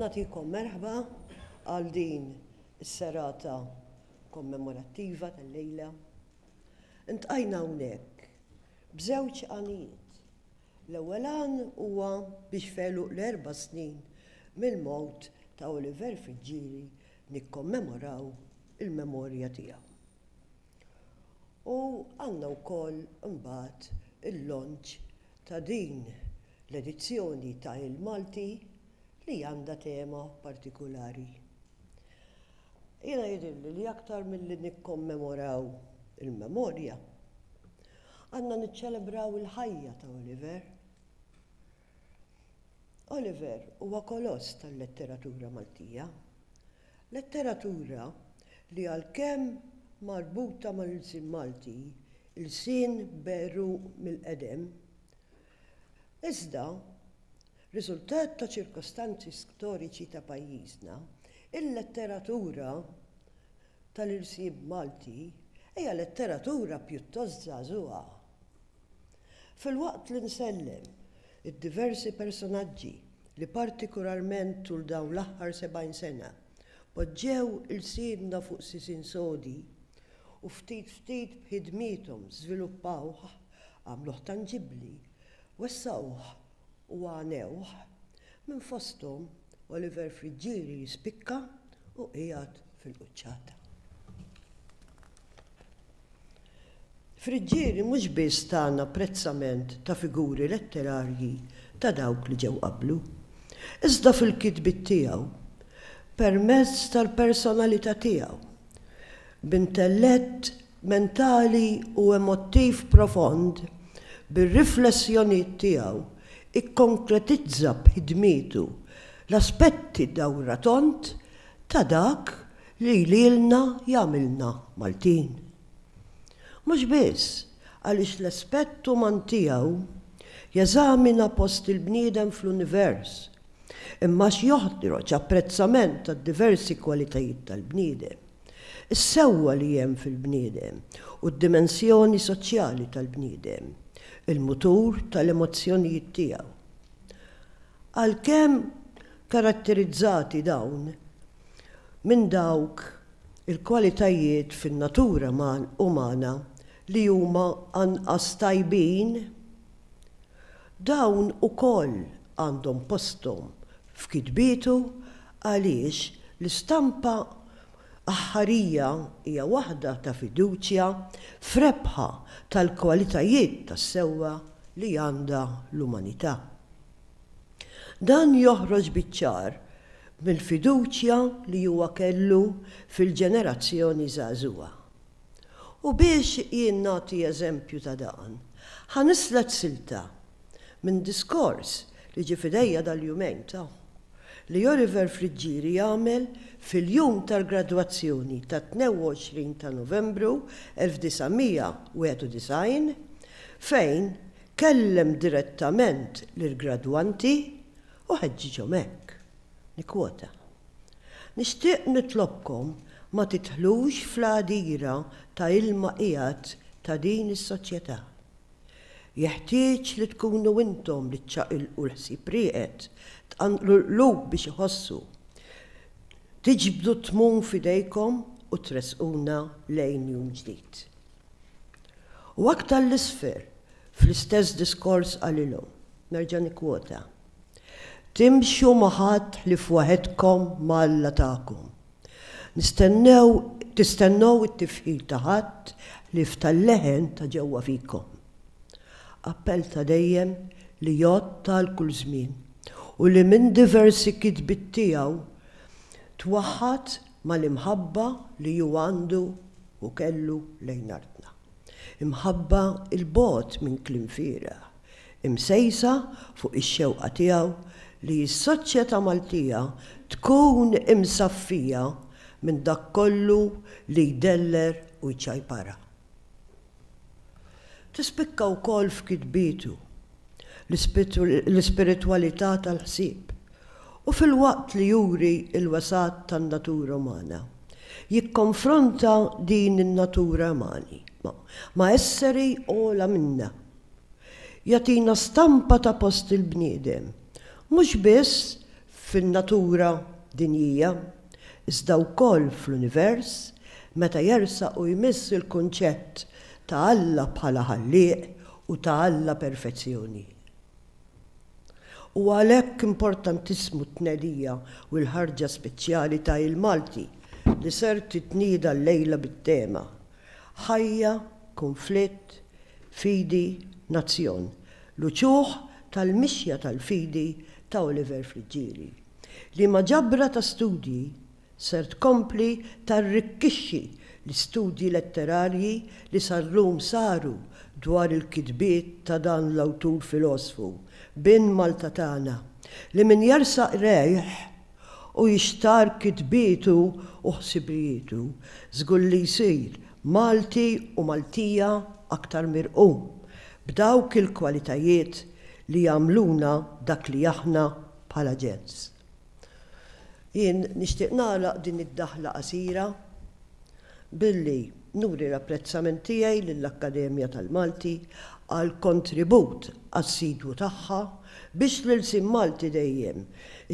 Nagħtikom merħba għal din is-serata kommemorattiva tal-lejla. Iltqajna hawnhekk b'żewġ għanijiet. L-ewwel għan huwa biex f'għeluq l-erba' snin mill-mewt ta' Oliver Friggieri nikkommemoraw il-memorja tiegħu. U għandna wkoll imbagħad il-launch ta' din l-edizzjoni ta' Il-Malti li għandha tema partikulari. Jiena jidhirli li aktar milli nikkommemoraw il-memorja, Għandna niċċelebraw il-ħajja ta' Oliver. Oliver huwa koloss tal-letteratura Maltija. Letteratura li għalkemm marbuta mal-ilsien Malti, ilsien beru mill-qedem, iżda riżultat ta' ċirkostanzi storiċi ta' pajjiżna, il-letteratura tal-irsib Malti hija letteratura pjuttost żagħżugħa. Filwaqt li nsellem id-diversi personaġġi li partikularment tul dawn l-aħħar sebgħin sena poġġew ilsienna fuq sisin sodi u ftit ftit b'ħidmiethom żviluppaw għamluh tanġibbli, wessgħuh u għanewh, minn fosthom Oliver Friggieri jispikka u qiegħed fil-quċċata. Friggieri mhux biss tana apprezzament ta' figuri letterarji ta' dawk li ġew qablu, iżda fil-kitbiet tiegħu, permezz tal-personalità tiegħu, b'intellett mentali u emottiv profond bir-riflessjonijiet tiegħu ikkonkretizza b'ħidmietu l-aspetti dawra tond ta' dak li lilna jagħmilna Maltin. Mhux biss għaliex l-aspett uman tiegħu jeżamina post il-bniedem fl-univers, imma għax joħroġ apprezzament tad-diversi kwalitajiet tal-bniedem. is-sewwa li hemm fil-bniedem u d-dimensjoni soċjali tal-bniedem, il-mutur tal-emozzjonijiet tiegħu. Għalkemm karatterizzati dawn minn dawk il-kwalitajiet fin-natura umana li huma anqas tajbin, Dawn ukoll għandhom posthom f'kitbietu għaliex l-istampa aħħarija hija waħda ta' fiduċja f'rebħa tal-kwalitajiet tas-sewwa li għandha l-umanità. Dan joħroġ biċ-ċar mill-fiduċja li huwa kellu fil-ġenerazzjoni żagħżugħa. U biex jien nagħti eżempju ta' dan, ħa nislet silta minn diskors li ġie f'idejja dal-jumejn ta' li Oliver Friggieri għamel fil-jum tal-gradwazzjoni tat-22 ta' Novembru 1991 fejn kellem direttament lill-gradwanti u ħeġġiġhom hekk, nikkwota, Nixtieq nitlobkom ma tidħlux fl-għadira ta' ilma qiegħed ta' din is-soċjetà. Jeħtieġ li tkunu intom li ċċaqilqu l-ħsieb rieqed, tqanqlu l-qlub biex iħossu, tiġbdu t-tmun f'idejkom u tressquna lejn jum ġdid. U aktar 'l isfel fl-istess diskors qalilhom, nerġa' nikkwota, Timxu ma' ħadd ħlief waħedkom ma' Alla tagħkom. Nistennew, tistennew it-tifħir ta' ħadd ħlief tal-leħen ta' ġewwa fikom. Appell ta' dejjem li jgħodd għal kull żmien u li minn diversi kitbiet tiegħu twaħħad mal-imħabba li hu għandu u kellu lejn artna. Imħabba 'l bogħod minn kliem fieragħ. imsejsa fuq ix-xewqa tiegħu li s-soċjetà Maltija tkun imsaffija minn dak kollu li jdeller u jċajparha. Tispikka wkoll f'kitbietu l-ispiritwalità tal-ħsieb u filwaqt li juri l-wesgħat tan-natura umana, jikkonfronta din in-natura umani ma' esseri ogħla minna. jagħtina stampa ta' post il-bniedem, mhux biss fin-natura dinjija, iżda wkoll fl-univers, meta jersaq u jmiss il-kunċett ta' Alla bħala Ħallieq u ta' Alla Perfezzjoni. Huwa għalhekk importantissmu t-tnedija u l-ħarġa speċjali ta' Il-Malti li ser titnieda llejla bit-tema, Ħajja, Kunflitt, fidi, nazzjon, l-uċuħ tal-mixja tal-fidi ta' Oliver Friggieri. Liema ġabra ta' studji ser tkompli tarrikkixxi l-istudji letterarji li sal-lum saru dwar il-kitbiet ta' dan l-awtur filosfu, bin Malta tagħna, li minn jersaq rejh, u jixtarr kitbietu u ħsibrijietu, żgur li jsir Malti u Maltija aktar mirqum b'dawk il-kwalitajiet li jagħmluna dak li aħna bħala ġens. Jien nixtieq nagħlaq din id-daħla qasira Billi nuri l-apprezzament tiegħi lill-Akkademja tal-Malti għall-kontribut assidwu tagħha biex l-ilsien Malti dejjem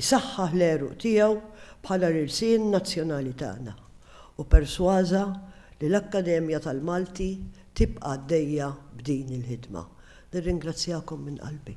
isaħħaħ l-għeruq tiegħu bħala l-ilsien nazzjonali tagħna u persważa li l-Akkademja tal-Malti tibqa' għaddejja b'din il-ħidma. Nirringrazzjakom minn qalbi.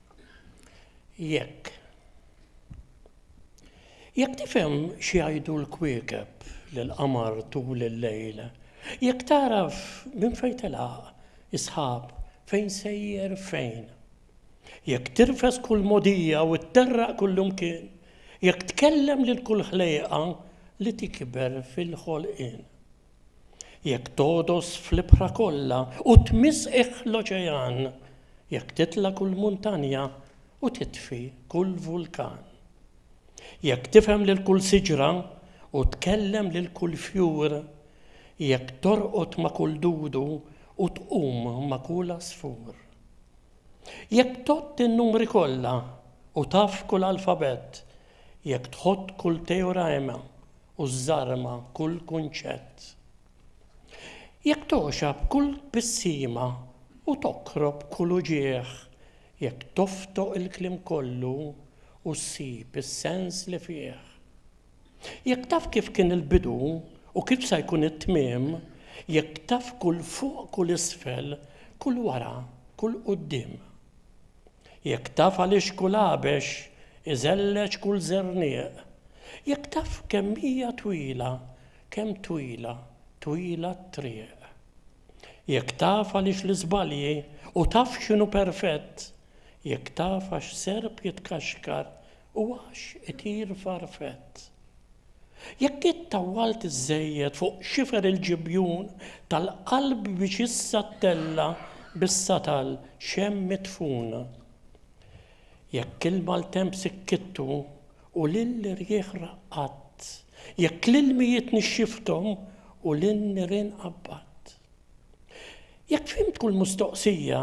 Jekk. Jekk tifhem x'jgħidu l-kwiekeb li l-qamar tul il-lejl, jekk tagħraf minn fejn telaq, is-sħab, fejn sejjer, fejn. Jekk tirfes kull mogħdija u tterraq kullimkien, jekk tkellem lil kull ħlejqa li tikber fil-ħolqien. Jekk togħdos fl-ibħra kollha u tmiss qiegħ l-oċean, jekk titla' kull muntanja u titfi kull vulkan. Jekk tifhem lil kull siġra u tkellem lil kull fjur, jekk torqod ma' kull dudu u tqum ma' kull għasfur. Jekk tgħodd in-numri kollha u taf kull alfabett, jekk tħodd kull teorema u żżarma kull kunċett. Jekk togħxab kull tbissima u toqrob kull uġigħ, jekk toftoq il-kliem kollu u ssib is-sens li fih. Jekk taf kif kien il-bidu u kif sa jkun it-tmiem, jekk taf kull fuq kull isfel, kull wara kull quddiem. Jekk taf għaliex kull għabex iżelleġ kull żernieq, jekk taf kemm hija twila, kemm twila, twila t-triq. Jekk taf għaliex l-iżbalji u taf x'inhu perfett, jekk taf għax serp jitkaxkar U għax itir farfett. Jekk int tawwalt iżżejjed fuq xifer il-ġibjun tal-qalb biex issa ttella' bissa tal, xemm midfun. Jekk il-maltemp sikkittu u lill-irjieħ raqqadt, jekk l-ilmijiet nixxifthom u lin-nirien qabbadt. Jekk fhimt kull mustoqsija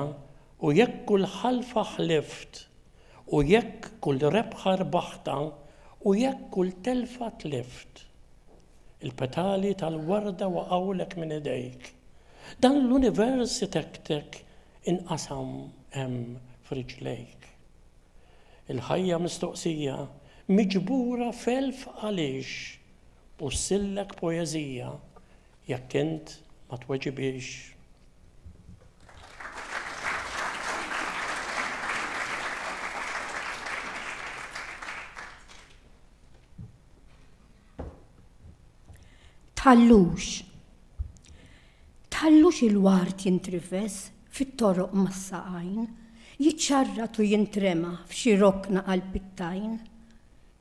u jekk kull ħalfa ħlift U jekk kull rebħa rbaħtha u jekk kull telfa tlift. Il-petali tal-warda waqgħulek minn idejk. Dan l-univers itektek inqasam hemm f'riġlejk. Il-ħajja mistoqsija miġbura f'elf għaliex, bussillek poeżija Jekk int ma tweġibilx, Tħallux Tħallux il-ward jintrifes fit-toroq mas-saqajn, jiċċarrat u jintrema f'xi rokna għall-pittajn.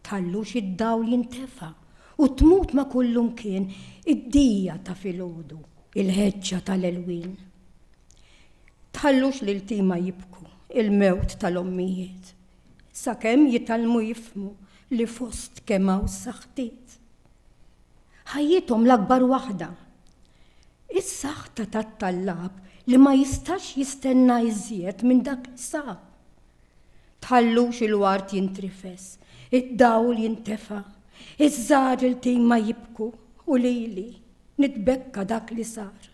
Tħallux id-dawl jintefa' u tmut ma' kullumkien id-dija ta' filgħodu, il-ħeġġa tal-għelwien. Tħallux l-iltiema jibku l-mewt tal-ommijiet, sakemm jitgħallmu jifhmu li fost kemm hawn saħħtiet. Ħajjithom l-akbar waħda. Is-saħħta tat-tallab li ma jistax jistenna iżjed minn dak li sab. Tħallux il-ward jintrifes, id-dawl jintefa', iż-żgħar iltima jibku u lili nitbekka dak li sar.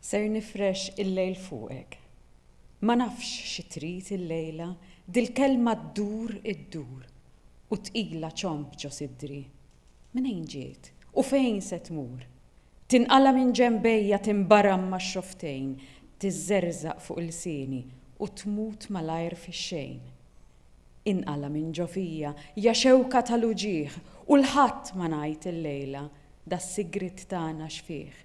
Ser nifrex il-lejl fuqek. Ma nafx xi trid illejla, dil-kelma ddur iddur u tqila ċomb ġo sidri. Mnejn ġiet u fejn se tmur? Tinqala' minn ġenbejja, tinbaram max-xofftejn, tiżżerżaq fuq ilsieni u tmut malajr fix-xejn. Inqala' minn ġo fija, ja xewka tal-uġigħ, u 'l ħadd ma ngħid illejla, das-sigriet tagħna x'fih.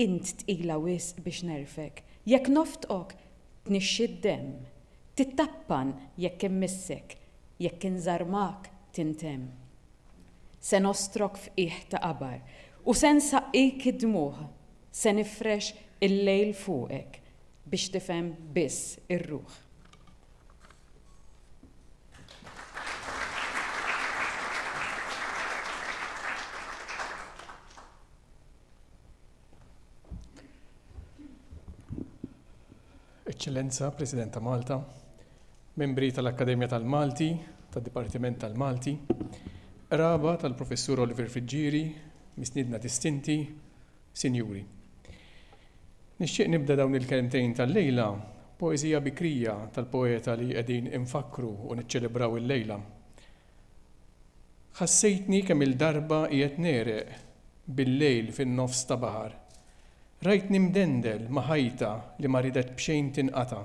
Int tqila wisq biex negħrfek, jekk noftqok, tnixxi d-demm, tittappan jekk immissek, jekk inżarmak, tintemm. Se nostrok f'qiegħ ta' qabar, u se nsaqqik id-dmugħ, se nifrex il-lejl fuqek, biex tifhem biss ir-ruħ. Eċċellenza, President ta' Malta, membri tal-Akkademja tal-Malti, tad-Dipartiment tal-Malti, qraba tal-Professur Oliver Friġġieri, misniedna distinti, Sinjuri. Nixtieq nibda dawn il-kelmtejn tal-lejla b'poeżija bikrija tal-poeta li qegħdin infakkru u niċċelebraw illejla. Ħassejtni kemm-il darba qiegħed negħreq bil-lejl fin-nofs ta' baħar. Rajtni mdendel ma' ħajta li ma ridet b'xejn tinqata'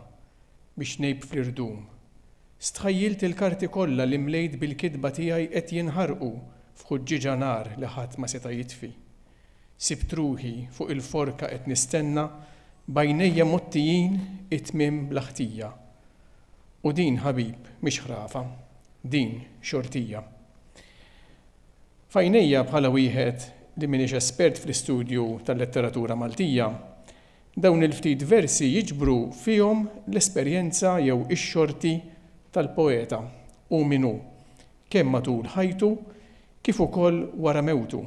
biex ngħib fl-irdum. Stħajjilt il-karti kollha li mlejt bil-kitba tiegħi qed jinħarqu f'ħuġġieġa nar li ħadd ma seta' jitfi. Sibt ruħi fuq il-forka qed nistenna b'għajnejja mgħottijin it-tmiem bla ħtija. U din ħabib mhix ħrafa, din xortija. F'għajnejja bħala wieħed li m'iniex espert fl-istudju tal-letteratura Maltija, dawn il-ftit versi jiġbru fihom l-esperjenza jew ix-xorti tal-poeta, hu min hu, kemm matul ħajtu kif ukoll wara mewtu.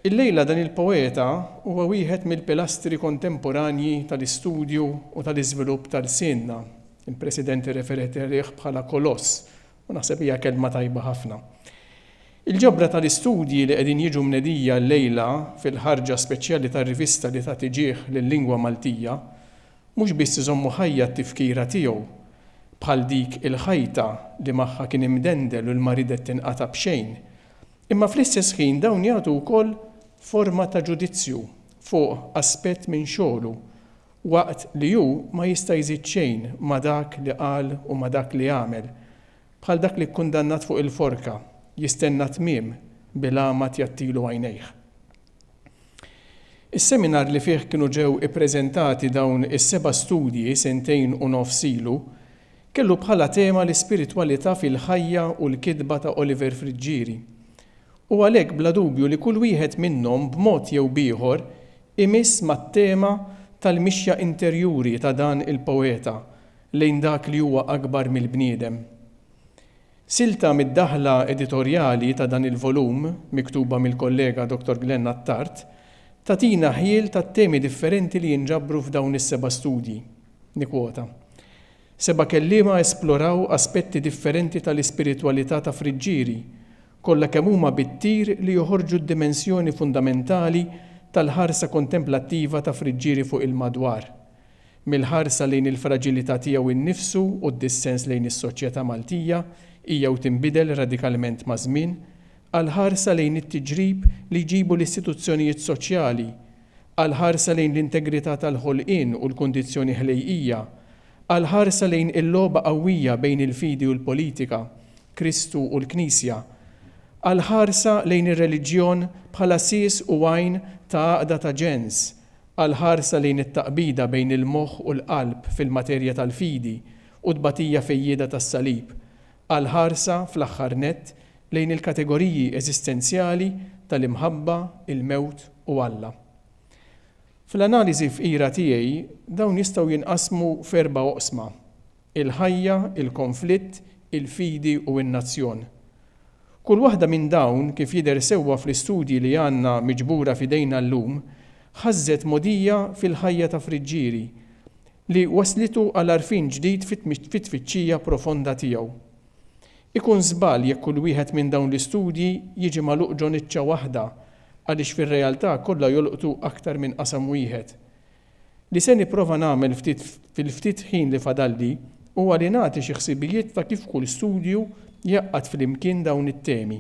Illejla dan il-poeta huwa wieħed mill-pilastri kontemporanji tal-istudju u tal-iżvilupp ta' lsienna. Il-President irreferiet għalih bħala koloss u naħseb hija kelma tajba ħafna. Il-ġabra tal-istudji li qegħdin jiġu mnedija llejla fil-ħarġa speċjali tar-rivista li tagħti ġieħ lil-lingwa Maltija Mhux biss iżommu ħajja t-tifkira tiegħu, bħal dik il-ħajta li magħha kien imdendel u li ma ridet tinqata' b'xejn, imma fl-istess ħin dawn jagħtu wkoll forma ta' ġudizzju fuq aspett minn xogħlu, waqt li hu ma jista' jżid xejn ma' dak li qal u ma' dak li għamel, bħal dak li kkundannat fuq il-forka, jistenna tmiem bil-għama tjattilu għajnejh. Is-seminar li fih kienu ġew ippreżentati dawn is-seba' studji sentejn u nofs ilu, kellu bħala tema l-ispiritwalità fil-ħajja u l-kitba ta' Oliver Friggieri. U għalhekk bla dubju li kull wieħed minnhom b'mod jew b'ieħor imiss mat-tema tal-mixja interjuri ta' dan il-poeta lejn dak li huwa akbar mill-bniedem. Silta mid-daħla editorjali ta' dan il-volum, miktuba mill-kollega Dottor Glenn Attard, tagħtina ħjiel tat-temi differenti li jinġabru f'dawn is-seba' studji. Nikkwota, Seba' kelliema esploraw aspetti differenti tal-ispiritwalità ta' Friġġieri, kollha kemm huma bit-tir li joħorġu d-dimensjoni fundamentali tal-ħarsa kontemplattiva ta' Friġġieri fuq il-madwar. mill-ħarsa lejn il-fraġilità tiegħu nnifsu u d-dissens lejn is-soċjetà Maltija hija u tinbidel radikalment maż-żmien, għall-ħarsa lejn it-tiġrib li jġibu l-istituzzjonijiet soċjali, għall-ħarsa lejn l-integrità tal-ħolqien u l-kundizzjoni ħlejqija, għall-ħarsa lejn il-logħba qawwija bejn il-fidi u l-politika, Kristu u l-Knisja, għall-ħarsa lejn ir-reliġjon bħala sies u għajn ta' għaqda ta' ġens, għall-ħarsa lejn it-taqbida bejn il-moħħ u l-qalb fil-materja tal-fidi u tbatija fejjieda tas-Salib, għall-ħarsa, fl-aħħar nett, lejn il-kategoriji eżistenzjali tal-imħabba, il-mewt u Alla. Fl-analiżi fqira tiegħi, dawn jistgħu jinqasmu f'erba' oqsma. il-ħajja, il-konflitt, il-fidi u n-nazzjon. Kull waħda minn dawn, kif jidher sewwa fl-istudji li għandna miġbura f'idejna llum, ħażżet mogħdija fil-ħajja ta' Friġġieri, li wasslitu għal għarfien ġdid fit-tfittxija profonda tiegħu. Ikun żball jekk kull wieħed minn dawn l-istudji jiġi magħluq ġo niċċa waħda għaliex fir-realtà kollha jolqtu aktar minn qasam wieħed. Li se nipprova nagħmel ftit fil-ftit ħin li fadalli huwa li nagħti xi ħsibijiet ta' kif kull studju jgħaqqad flimkien dawn it-temi.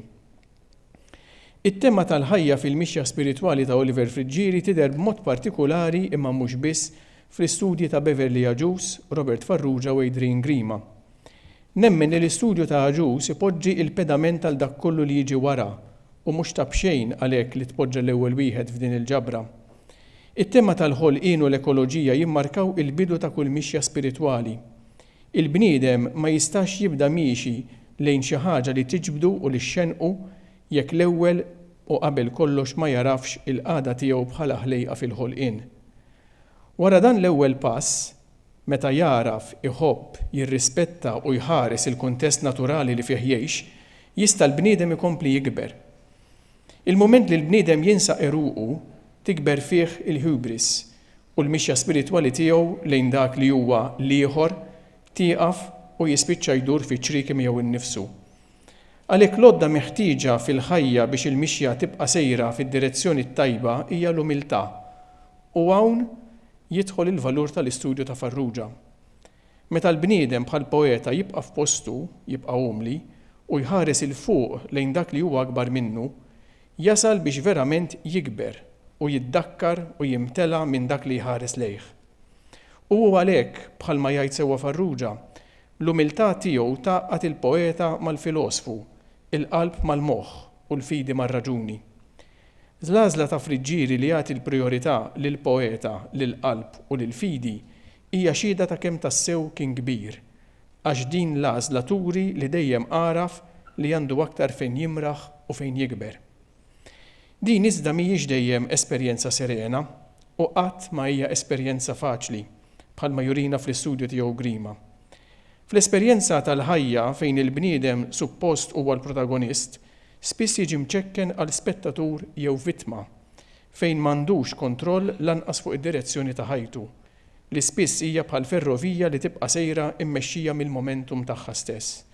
It-tema tal-ħajja fil-mixja spiritwali ta' Oliver Friggieri tidher b'mod partikulari imma mhux biss fl-istudji ta' Beverley Agius, Robert Farrugia u Adrian Grima. Nemmen li l-istudju ta' Agius ipoġġi il-pedament għal dak kollu li jiġi wara u mhux ta' b'xejn għalhekk li tpoġġa l-ewwel wieħed f'din il-ġabra. It-tema tal-ħolqien u l-ekoloġija jimmarkaw il-bidu ta' kull mixja spiritwali. Il-bniedem ma jistax jibda miexi lejn xi ħaġa li tiġbdu u li xxenqu jekk l-ewwel u qabel kollox ma jagħrafx il-qagħda tiegħu bħala ħlejqa fil-ħolqien. Wara dan l-ewwel pass, meta jagħraf, iħobb, jirrispetta u jħares il-kuntest naturali li fih jgħix, jista' l-bniedem ikompli jikber. Il-mument li l-bniedem jinsa għeruqu, tikber fih il-hubris, u l-mixja spiritwali tiegħu lejn dak li huwa l-ieħor tieqaf u jispiċċa jdur fi ċrieki miegħu nnifsu. Għalhekk l-għodda meħtieġa fil-ħajja biex il-mixja tibqa' sejra fid-direzzjoni t-tajba hija l-umiltà. U hawn jidħol il-valur tal-istudju ta' Farrugia. Meta l-bniedem bħal poeta jibqa' f'postu, jibqa' umli, u jħares 'il fuq lejn dak li huwa akbar minnu, jasal biex verament jikber u jiddakkar u jimtela minn dak li jħares lejh. U hu għalhekk, bħalma jgħid sewwa Farrugia, l-umiltà tiegħu tgħaqqad il-poeta mal-filosfu, il-qalb mal-moħħ u l-fidi mar-raġuni. L-għażla ta' Friggieri li jagħti l-prijorità lill-poeta, lill-qalb u lill-fidi Hija xhieda ta' kemm tassew kien kbir, għax din l-għażla turi li dejjem għaraf li għandu aktar fejn jimraħ u fejn jikber. Din iżda mhijiex dejjem esperjenza serena u qatt ma hija esperjenza faċli, bħalma jurina fl-istudju tiegħu Grima. Fl-esperjenza tal-ħajja fejn il-bniedem suppost huwa l-protagonist, spiss jiġi mċekken għal spettatur jew vittma, fejn m'għandux kontroll lanqas fuq id-direzzjoni ta' ħajtu. li spiss hija bħal ferrovija li tibqa' sejra mmexxija mill-momentum tagħha stess.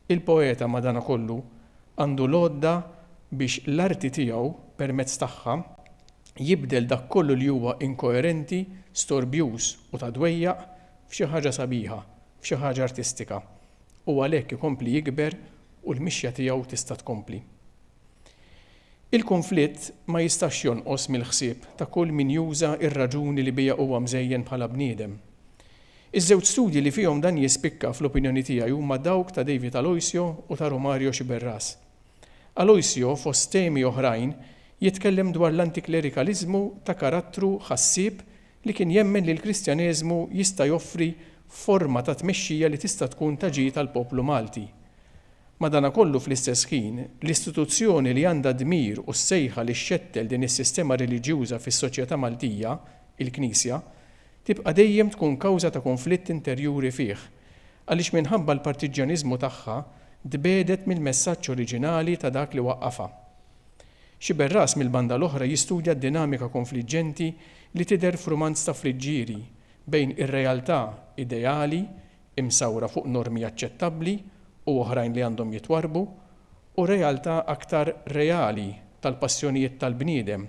Il-poeta, madankollu, għandu l-għodda biex l-arti tiegħu, permezz tagħha, jibdel dak kollu li huwa inkoerenti, storbjuż u ta' dwejjaq f'xi ħaġa sabiħa, f'xi ħaġa artistika, u għalhekk ikompli jikber u l-mixja tiegħu tista' tkompli. Il-kunflitt ma jistax jonqos mill-ħsieb ta' kull min juża r-raġuni li biha huwa mżejjen bħala bniedem. Iż-żewġ studji li fihom dan jispikka fl-opinjoni tiegħi huma dawk ta' David Aloisio u ta' Romario Sciberras. Aloisio, fost temi oħrajn, jitkellem dwar l-antiklerikaliżmu ta' karattru ħassieb li kien jemmen li l-Kristjaneżmu jista' joffri forma ta' tmexxija li tista' tkun ta' ġid għall-poplu Malti. Madankollu fl-istess ħin, l-istituzzjoni li għandha d-dmir u s-sejħa li xxettel din is-sistema reliġjuża fis-soċjetà Maltija, il-Knisja, tibqa' dejjem tkun kawża ta' kunflitt interjuri fih, għaliex minħabba l-partiġġjaniżmu tagħha tbiegħdet mill-messaġġ oriġinali ta' dak li waqqafha. Xi berras mill-banda l-oħra jistudja d-dinamika konfliġġenti li tidher f'rumanz ta' Friggieri bejn ir-realtà ideali, imsawra fuq normi aċċettabbli u oħrajn li għandhom jitwarrbu, u realtà aktar reali tal-passjonijiet tal-bniedem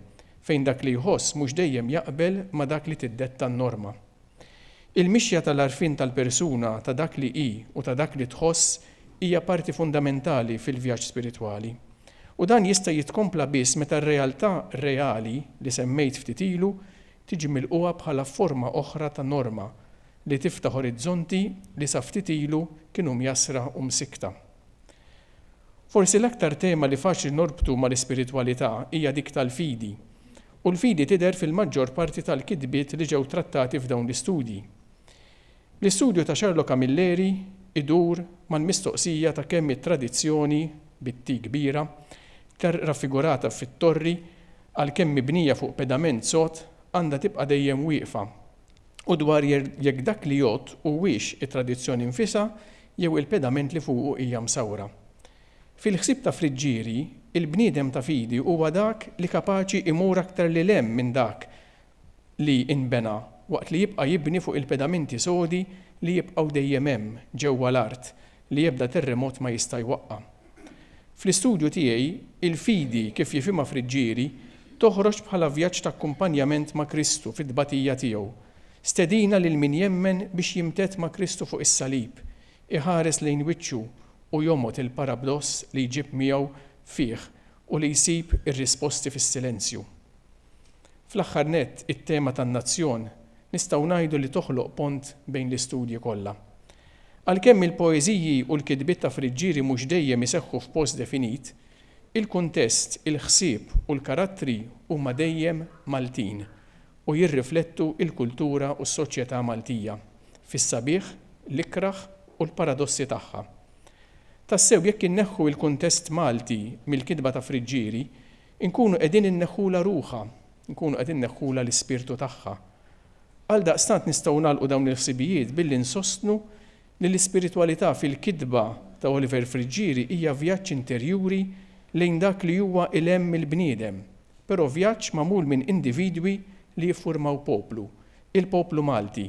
fejn dak li jħoss mhux dejjem jaqbel ma' dak li tiddetta n-norma. Il-mixja tal-għarfien tal-persuna ta' dak li hi u ta' dak li tħoss hija parti fundamentali fil-vjaġġ spiritwali. U dan jista' jitkompla biss meta r-realtà reali li semmejt ftit ilu tiġi milqugħa bħala forma oħra ta' norma li tiftaħ orizzonti li sa ftit ilu kienu mjassra u msikkta. Forsi l-aktar tema li faċli norbtu mal-ispiritwalità hija dik tal-fidi, u l-fidi tidher fil-maġġor parti tal-kitbiet li ġew trattati f'dawn l-istudji. L-istudju ta' Charlo Camilleri idur mal-mistoqsija ta' kemm it-tradizzjoni, bit-T kbira, raffigurata fit-torri, għalkemm mibnija fuq pedament sod, għandha tibqa' dejjem wieqfa. u dwar jekk dak li jgħodd huwiex it-tradizzjoni nfisha jew il-pedament li fuqu hija msawwra. Fil-ħsieb ta' Friggieri, il-bniedem ta' fidi huwa dak li kapaċi imur aktar lil hemm minn dak li nbena waqt li jibqa' jibni fuq il-pedamenti sodi li jibqgħu dejjem hemm ġewwa l-art li ebda terremot ma jista' jwaqqa'. Fl-istudju tiegħi, il-fidi, kif jifhimha Friggieri, toħroġ bħala vjaġġ ta' akkumpanjament ma' Kristu fit-tbatija tiegħu, stedina lil min jemmen biex jimtedd ma' Kristu fuq is-salib, iħares lejn wiċċu u jomgħod il-parabdoss li jġib miegħu fih u li jsib ir-risposti fis-silenzju. Fl-aħħar nett, it-tema tan-nazzjon nistgħu ngħidu li toħloq pont bejn l-istudji kollha. Għalkemm il-poeżiji u l-kitbiet ta' Friggieri mhux dejjem iseħħu f'post definit, il-kuntest, il-ħsieb u l-karattri huma dejjem Maltin u jirriflettu l-kultura u s-soċjetà Maltija, fis-sabiħ, l-ikrah u l-paradossi tagħha. Tassew jekk inneħħu l-kuntest Malti mill-kitba ta' Friggieri, inkunu qegħdin inneħħulha ruħha, inkunu qed inneħħulha l-ispirtu tagħha. Għaldaqstant nistgħu nagħlqu dawn il-ħsibijiet billi nsostnu li l-ispiritwalità fil-kitba ta' Oliver Friggieri hija vjaġġ interjuri lejn dak li huwa 'l hemm mill-bniedem, però vjaġġ magħmul minn individwi li jiffurmaw poplu, il-poplu Malti,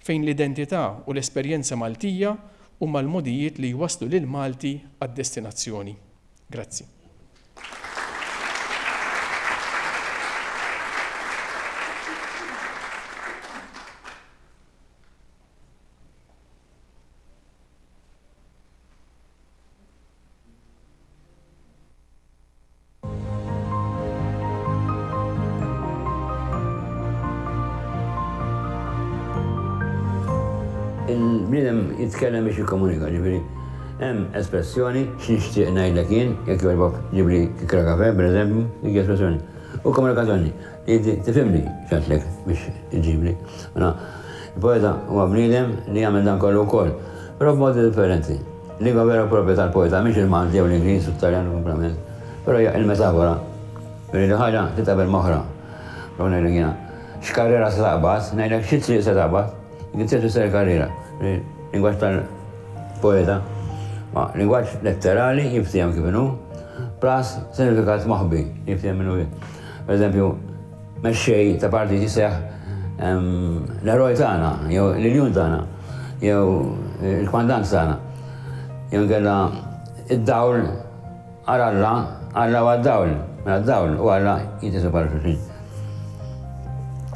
fejn l-identità u l-esperjenza Maltija huma l-mogħdijiet li jwasslu lill-Malti għad-destinazzjoni. Grazzi. Il-bniedem jitkellem biex jikkomunika, ġifieri. Hemm espressjoni, x'nixtieq ngħidlek jien, jekk jogħġbok ġibli kikra kafè, pereżempju, dik hi espressjoni. U komunikazzjoni, inti tifhimni x'għedtlek biex iġġibli. Mela, il-poeta huwa bniedem li jagħmel dan kollu wkoll, però b'modi differenti. Lingwa vera u proprja tal-poeta mhix il-Malti jew l-Ingliż u t-Taljan kumplament, però hija il-metafora billi li ħaġa titqabel m'oħra. Prova ngħidlek jiena, x'karriera se taqbad, ngħidlek xi triq se taqbad. Vincent Misseri Carrera, lingwaġġ tal-poeta, ma lingwaġġ letterali jinftiehem kif inhu, plus sinifikat moħbi jinftiehem minnu fih. Per eżempju, mexxej ta' partit jiseħ l-eroj tagħna, jew l-iljun tagħna, jew il-kmandant tagħna, jew kella id-dawl Għal Alla, Alla huwa d-dawl, mela d-dawl u Alla jitqiesu bħala xulxin.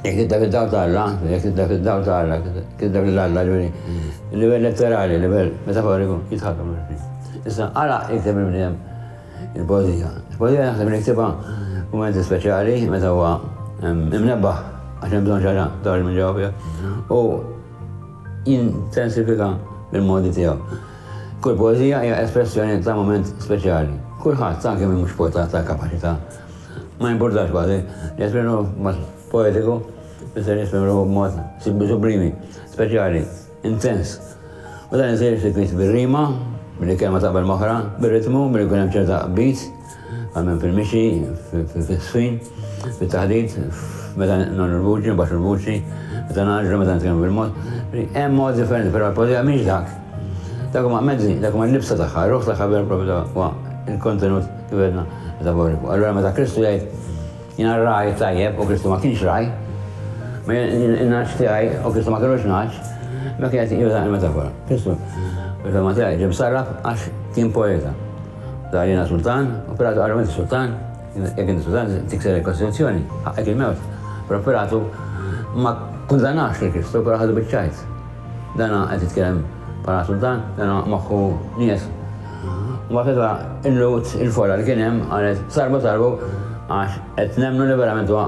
Jekk tidda fid-dawl ta' Alla, jekk tidda fid-dawl ta' Alla, tidda lil Alla, ġifieri livell letterali, livell metaforiku jitħaddmu ma' xulxin. Issa għala jikteb il-bniedem il-poeżija? Il-poeżija naħseb li jiktibha f'mumenti speċjali meta huwa imnebbaħ għax hemm bżonn xi ħaġa toħroġ minn ġewwa fih u jintensifika bil-modi tiegħu. Kull poeżija hija espressjoni ta' mument speċjali. Kulħadd, anki min mhux poeta ta' kapaċità, ma jimpurtax kważi, jesprimi ruħu b'mod poetiku, tfisser jesprimi ruħu b'mod sublimi, speċjali, intens. U dan isir sikwit bir-rima, billi kelma taqbel m'oħra, bir-ritmu, billi jkun hemm ċerta qbid, Għammen fil-mixi, fil-swin, fil-taħdit, meta non il-vuċi, baxu il-vuċi, meta naġru, meta nitkellmu bil-mod. Hemm mod differenti, però l-poezija mhix dak. Dak huma mezzi, dak huma l-libsa tagħha, ruħ tagħha vera propju huwa il-kontenut kif għedna metaforiku. Allura meta Kristu jgħid jiena raj tajjeb u Kristu ma kienx raj, ma naġġ tiegħi u Kristu ma kienux naġġ, ma kien qed juża l-metafora. Kristu, fil-fema tiegħi, ġim sarraf għax kien poeta. Dahirina Sultan, operatu għal Lorenzo Sultan, jekk inti Sultan tikser il-Kostituzzjoni, ħaqqek il-mewt, però Pilatu ma kkundannax lil Kristu, però ħadu biċ-ċajt. Dana qed jitkellem bħala Sultan, dana moħħu nies. Mbagħad meta illut il-folla li kien hemm qalet sarbu sarbu għax qed nemmnu li verament huwa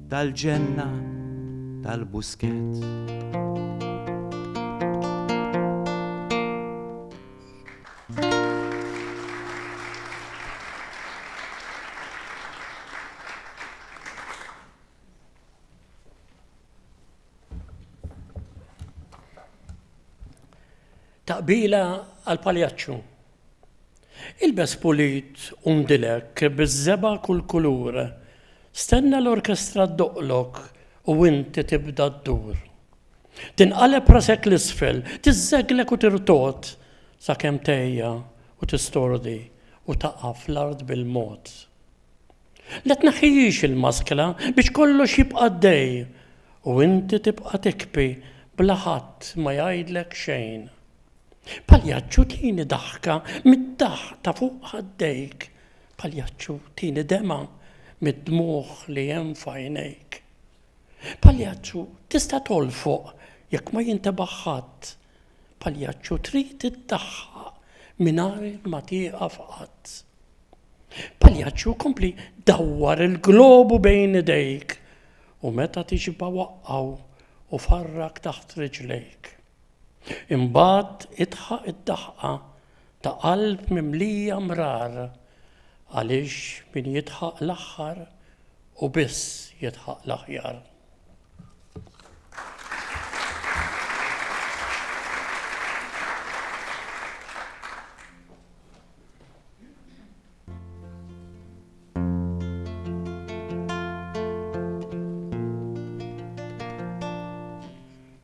Tal-ġenna tal-Buskett. Taqbila għall-Paljaċċu. Ilbes pulit u ndilek biż-żebgħa kull kulur, stenna l-orkestra ddoqqlok u inti tibda ddur. Tinqaleb rasek 'l isfel, tiżżeglek u tirtogħod sakemm tgħejja u tistordi u taqa' fl-art bil-mod. La tneħħihiex il-maskra biex kollox jibqa' għaddej u inti tibqa' tikbi bla ħadd ma jgħidlek xejn. Paljaċċu tini daħka mid-daħq ta' fuq ħaddejk, Paljaċċu tini demgħa mid-dmugħ li hemm f'għajnejk. Paljaċċu tista' tolfoq jekk ma jintebaħ ħadd, Paljaċċu trid iddaħħaq mingħajr ma tieqaf qatt. Paljaċċu kompli dawwar il-globu bejn idejk u meta tixba' waqqgħu u farrak taħt riġlejk. Imbagħad idħaq id-daħqa ta' qalb mimlija mrar għaliex min jidħaq l-aħħar hu biss jidħaq l-aħjar.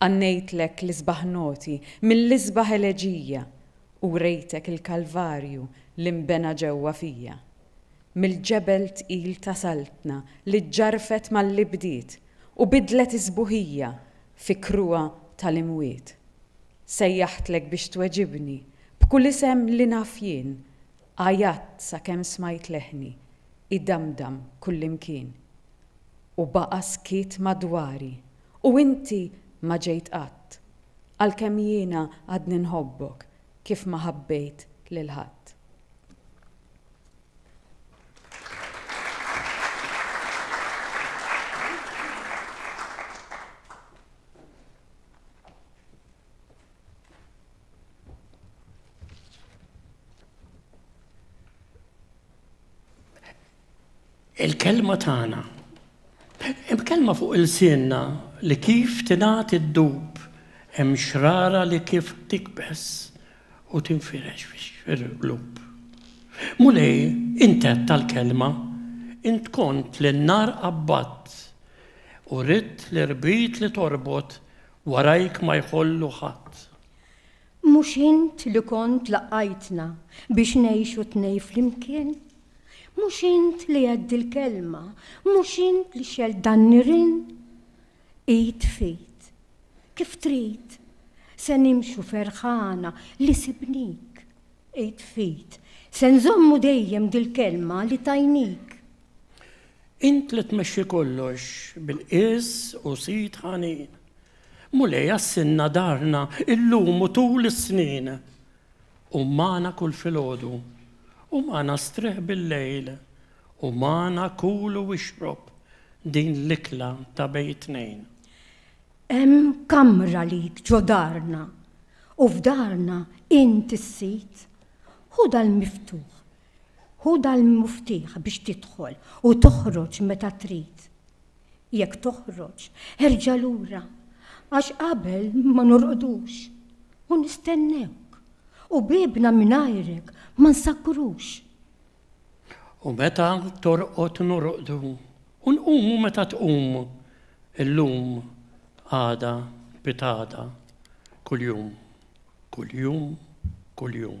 Ghannejtlek l-isbaħ noti mill-isbaħ eleġija u wrejtek il-Kalvarju li nbena ġewwa fija. Mill-ġebel tqil ta' Saltna li ġġarrfet mal-li bdiet u bidlet is-sbuħija fi kruha tal-imwiet. Sejjaħtlek biex tweġibni b'kull isem li naf jien, għajatt sakemm smajt leħni idamdam kullimkien. U baqa' skiet madwari U inti ma ġejt qatt, għalkemm jiena għadni nħobbok kif ma ħabbejt lil ħadd. Il-kelma tagħna. Hemm kelma fuq ilsienna li kif tingħad iddub, hemm xrara li kif tikbeż u tinfirex fil-qlub. Mulej, int għedt tal-kelma, int kont li n-nar qabbadt u ridt l-irbit li torbot warajk ma jħollu ħadd. Mhux int li kont laqqajtna biex ngħixu tnej flimkien? Mhux int li għedt dil-kelma, mhux int li xelt dan nirien? Id f'id, kif trid, se nimxu ferħana li sibnik. Id f'id, se nżommu dejjem dil-kelma li tajnik. Int li tmexxi kollox bil-qies u sid ħanin. Mulej għassilna darna illum u tul is-snin. Qum magħna kul filgħodu u magħna strieħ billejl u magħna kul u ixrob din l-ikla ta' bejn it-tnejn. Hemm kamra lik ġo darna u f'darna int is-sid. Ħu dal-miftuħ Hu dal-muftieħ biex tidħol u toħroġ meta trid. Jekk toħroġ, erġa' lura, għax qabel ma norqdux u nistennewk, u biebna mingħajrek ma nsakkrux. U meta torqod norqdu, u nqumu meta tqum, illum, għada, pitgħada, kuljum, kuljum, kuljum.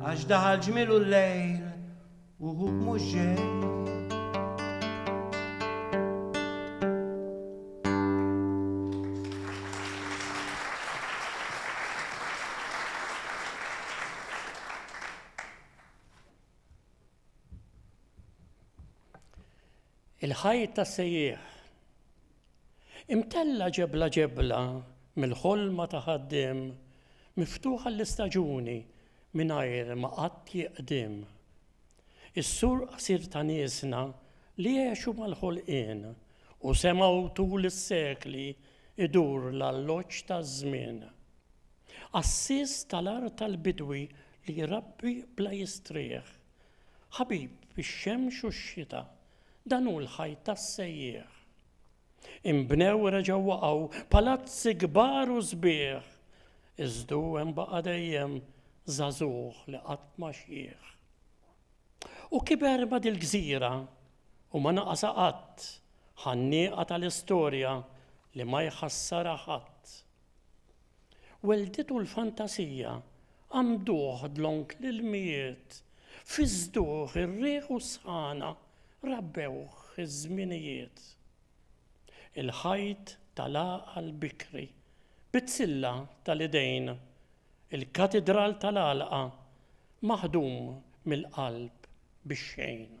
Għax daħal ġmilu l-lejl u hu mhux ġej. Il-ħajt tas-sejjieħ. Imtella' ġebla ġebla mill-ħolma ta' ħaddiem miftuħ għall-istaġuni mingħajr ma qatt jiqdiem. Is-sur qasir ta' niesna li għexu mal-ħolqien u semgħu tul is-sekli jdur l-alloġġ taż-żmien. Għassies tal-art tal-bidwi li jrabbi bla jistrieħ. Ħabib fix-xemx u x-xita, dan hu l-ħajt tas-sejjieħ. Inbnew u reġgħu waqgħu palazzi kbar u sbieħ, iżdu hemm baqa' dejjem żagħżugħ li qatt ma xiħ. U kiber ma' dil-gżira u ma naqasha qatt, ħannieqa tal-istorja li ma jħassarha ħadd. Welditu l-fantasija, għammduh dlonk l-ilmijiet, fiżżduh ir-riħ u s-sħana, rabbewh iż-żminijiet. Il-ħajt tal-għaqal bikri, bit-tilla tal-idejn, il-katidral tal-għalqa, maħdum mill-qalb bix-xejn.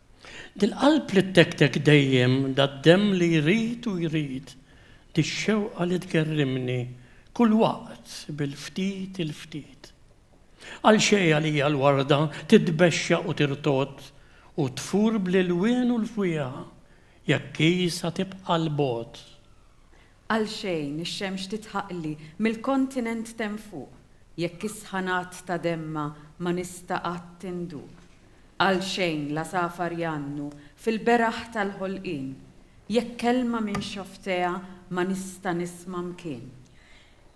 Dil-qalb li ttektek dejjem, dad-demm li jrid u jrid, dix-xewqa li tgerrimni kull waqt bil-ftit il-ftit. Għalxejn għalija l-warda titbexxaq u tirtodd u tfur bl-ilwien u l-fwieħa jekk hi sa tibqa' 'l bogħod. Għalxejn ix-xemx titħaqli mill-kontinent t'hemm fuq jekk is-sħanat ta' demmha ma nista' qatt induq. Għalxejn l-għasafar jgħannu fil-beraħ tal-ħolqien, jekk kelma minn xofftejha ma nista' nisma' mkien.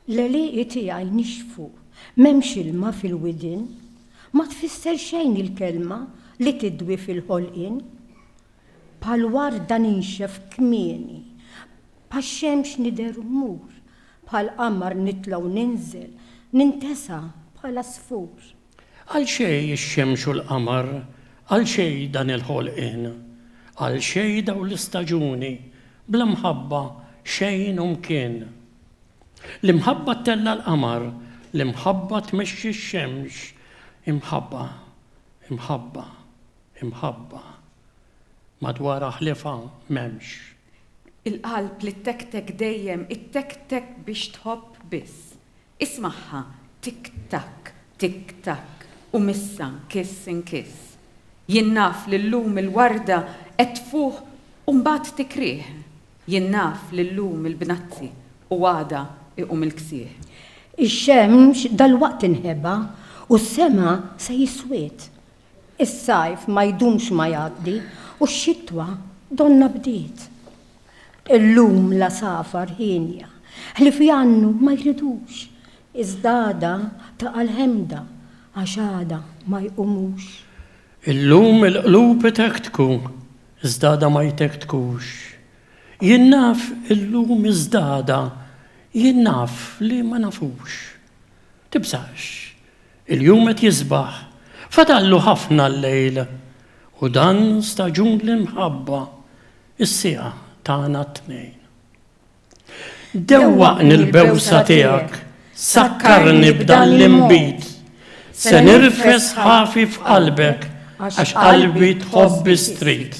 L-għelieqi tiegħi nixfu, m'hemmx ilma fil-widien, ma tfisser xejn il-kelma li tidwi fil-ħolqien. Bħal warda ninxef kmieni, bħax-xemx nidher u mmur, bħall-qamar nitla' u ninżel, nintesa' bħal għasfur. Għal xejn ix-xemx u l-qamar, għal xejn dan il-ħolqien? Għal xejn dawn l-istaġuni, bla mħabba xejn u mkien? L-imħabba ttella' l-qamar, l-imħabba tmexxi x-xemx, imħabba, imħabba, imħabba, madwarha ħliefha m'hemmx. Il-qalb li ttektek dejjem ittektek biex tħobb biss, Ismagħha, Tik takk, tik takk, u missa nkiss inkiss. Jien naf li llum il-warda qed tfuħ u mbagħad tikrieħ. Jien naf li llum il-bnazzi u għada iqum il-ksieħ. Ix-xemx dalwaqt tinħeba u s-sema se jiswid. Is-sajf ma jdumx ma jgħaddi u x-xitwa donnha bdiet. Illum l-għasafar hienja, ħlief jgħannu ma jridux, iżda għada taqa' l-ħemda għax għada ma jqumux. Illum il-qlub itektku, iżda għada ma jtektkux. Jien naf illum iżda għada jien naf li ma nafux. Tibżax, Il-jum qed jisbaħ, fadallu ħafna l-lejl, u dan staġun l-imħabba, is-siegħa tagħna t-tnejn. Dewwaqni l-bewsa tiegħek, sakkarni b'dan l-inbid, se nirfes ħafi f'qalbek għax qalbi tħobb is-street.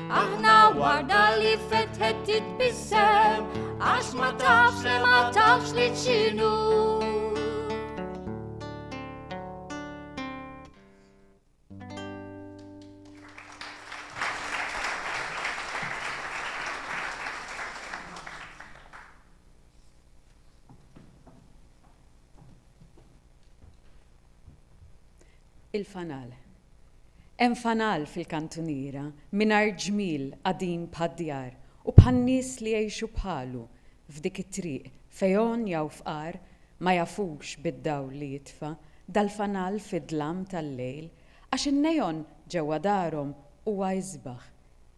Aħna warda li fetħet titbissem, għax ma tafx li ma tafx li ċinu. Il-fanal. Hemm fanal fil-kantuniera mingħajr ġmiel qadim bħad-djar u bħan-nies li jgħixu bħalu f'dik it-triq fejn jaw fqar ma jafux bid-dawl li jitfa' dal-fanal fid-dlam tal-lejl għax in-neon ġewwa darhom huwa isbaħ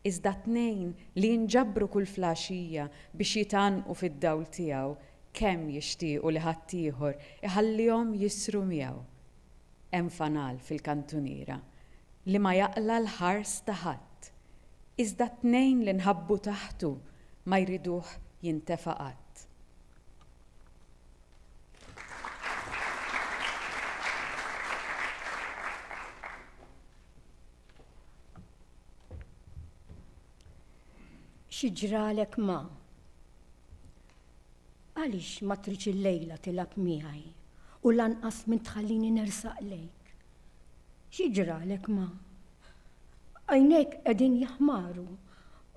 iżda t-tnejn li jinġabru kull flgħaxija biex jitgħannqu fid-dawl tiegħu kemm jixtiequ li ħaddieħor iħallihom jisru miegħu Hemm fanal fil-kantuniera li ma jaqla' l-ħars ta' ħadd, iżda t-tnejn li nħabbu taħtu ma jriduh jintefa' qatt. Xi ġralek ma. Għaliex ma tridx illejla tilgħab miegħi u lanqas min tħallini nersaq lejk? Xi ġralek ma? Għajnejk qegħdin jaħmaru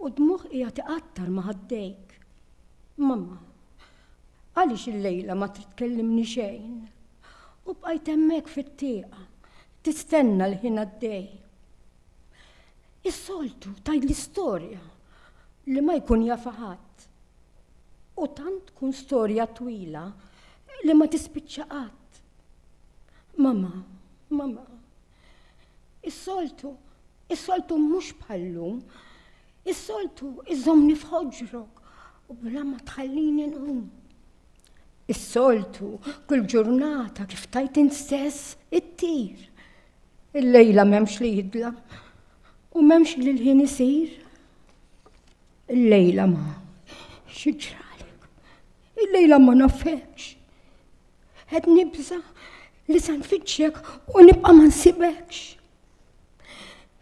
u d-dmugħ qiegħed iqattar ma' ħaddejk. Mamma, għaliex illejla ma trid tkellimni xejn? U bqajt hemmhekk fit-tieqa, tistenna l-ħin għaddej. Is-soltu tgħidli storja li ma jkun jafha ħadd. U tant tkun storja twila li ma tispiċċa qatt. Mama, mama, is-soltu, is-soltu mhux bħallum, is-soltu iżomni f'ħoġrok u bla ma tħallini nqum. Is-soltu kull ġurnata kif tajt instess it-tir Il-lejla m'hemmx li jidla u m'hemmx li l-ħin isir. Il-lejla ma xiġralek. Il-lejla ma nafekx. Qed nibża li se nfittxek u nibqa' ma nsibekx.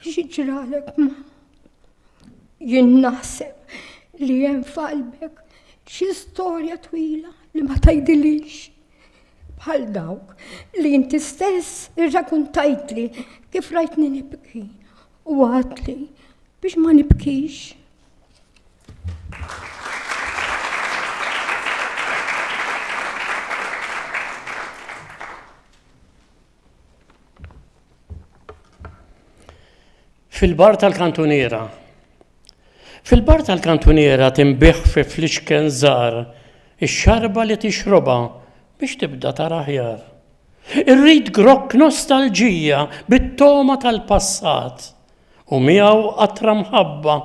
Xiġralek ma jien naħseb li hemm f'qalbek xi storja twila li ma tgħidilix. bħal dawk li inti stess irrakuntajtli kif rajtni nibki u għatli biex ma nibkix. Fil-bar tal-kantuniera. Fil-bar tal-kantuniera tinbih fi flixken żgħar ix-xarba li tixrobha biex tibda tara aħjar. Irrid grokk nostalġija bit-togħma tal-passat u miegħu qatra mħabba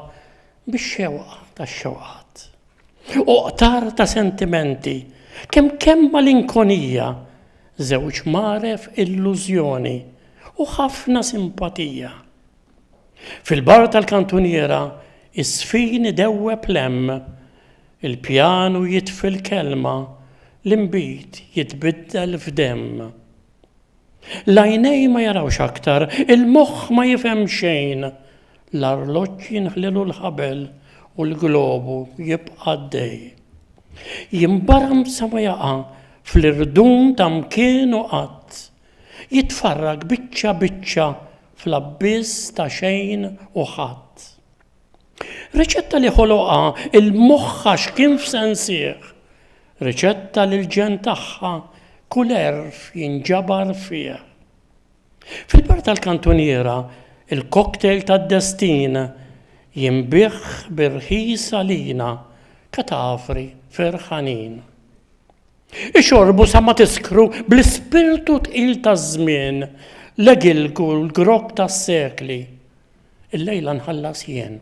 bix-xewqa tax-xewqat, u qtar ta' sentimenti, kemm kemm malinkonija, żewġ mgħaref illużjoni, u ħafna simpatija. Fil-bar tal-kantuniera iż-żfin idewweb l-hemm, il-pjanu jitfi l-kelma, l-inbid jitbiddel f'demm. L-għajnejn ma jarawx aktar, il-moħħ ma jifhem xejn, l-arloġġ jinħlielu l-ħabel u l-globu jibqa' għaddej. Jinbaram sa ma jaqa' fl-irdum ta' mkien u qatt. Jitfarrak biċċa biċċa fl-abbiss ta' xejn u ħadd. Riċetta li ħoloqha il-moħħa x'kien f'sensih. Riċetta li l-ġenn tagħha kull għerf jinġabar fih. Fil-bar tal-kantuniera, il-cocktail tad-destin jinbiegħ bir-rħis għalina, katavri ferħanin. Ixorbu sa ma tiskru bl-ispirtu tqil taż-żmien, l-egilku l-grokk tas-sekli. Illejla nħallas jien.